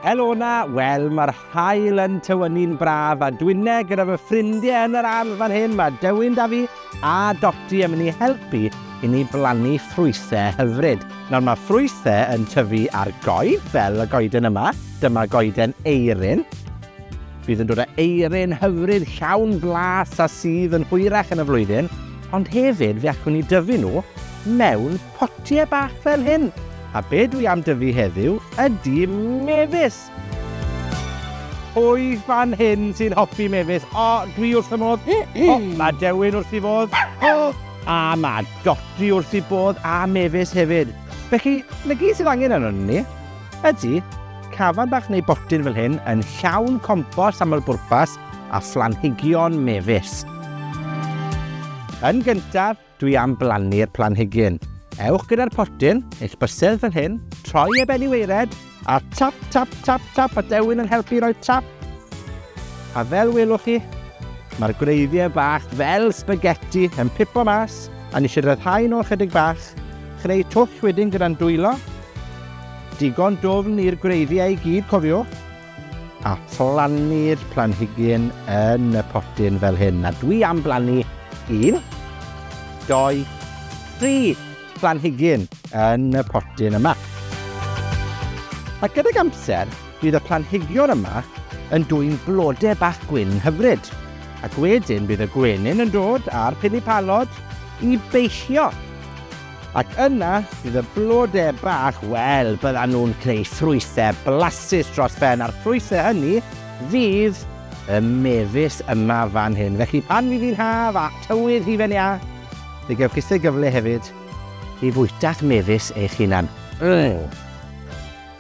Helo na, wel mae'r hael yn tywynnu'n braf a dwine gyda fy ffrindiau yn yr ardd fan hyn. Mae Dewyn da fi a Doti yn mynd i helpu i ni blannu ffrwythau hyfryd. Nawr mae ffrwythau yn tyfu ar goed, fel y goeden yma. Dyma goeden eirin. Bydd yn dod â eirin hyfryd llawn blas a sudd yn hwyrach yn y flwyddyn, ond hefyd fe allwn ni dyfu nhw mewn potiau bach fel hyn. A be dwi am dyfu heddiw ydy mefus! Pwy fan hyn sy'n hoffi mefus? O, dwi wrth y modd. O, mae Dewin wrth i fodd. O, a mae Dodi wrth i bodd a mefus hefyd. Felly, na gyd sydd angen arno ni. Ydy, cafan bach neu botyn fel hyn yn llawn compost aml-bwrpas a phlanhigion mefus. Yn gyntaf, dwi am blannu'r planhigyn. Ewch gyda'r potyn, eich bysedd fel hyn, troi e ben i weired, a tap, tap, tap, tap, a dewin yn helpu roi tap. A fel welwch chi, mae'r gwreiddiau bach fel spaghetti yn pipo mas, a ni eisiau rhyddhau nhw ychydig bach, Chreu twll wedyn gyda'n dwylo. Digon dwfn i'r gwreiddiau i gyd, cofiwch. A phlannu'r planhigyn yn y potyn fel hyn. A dwi am blannu un, doi, tri planhigyn yn y potyn yma. A gydag amser, bydd y planhigion yma yn dwy'n blodau bach gwyn hyfryd. Ac wedyn bydd y gwenyn yn dod a'r pilipalod i beisio Ac yna bydd y blodau bach, wel, byddan nhw'n creu ffrwythau blasus dros ben, a'r ffrwythau hynny fydd y mefus yma fan hyn. Felly pan fydd hi'n haf a tywydd hufen iâ, fe gewch chi sy'n gyfle hefyd i fwyta'ch mefus eich hunan. Mm.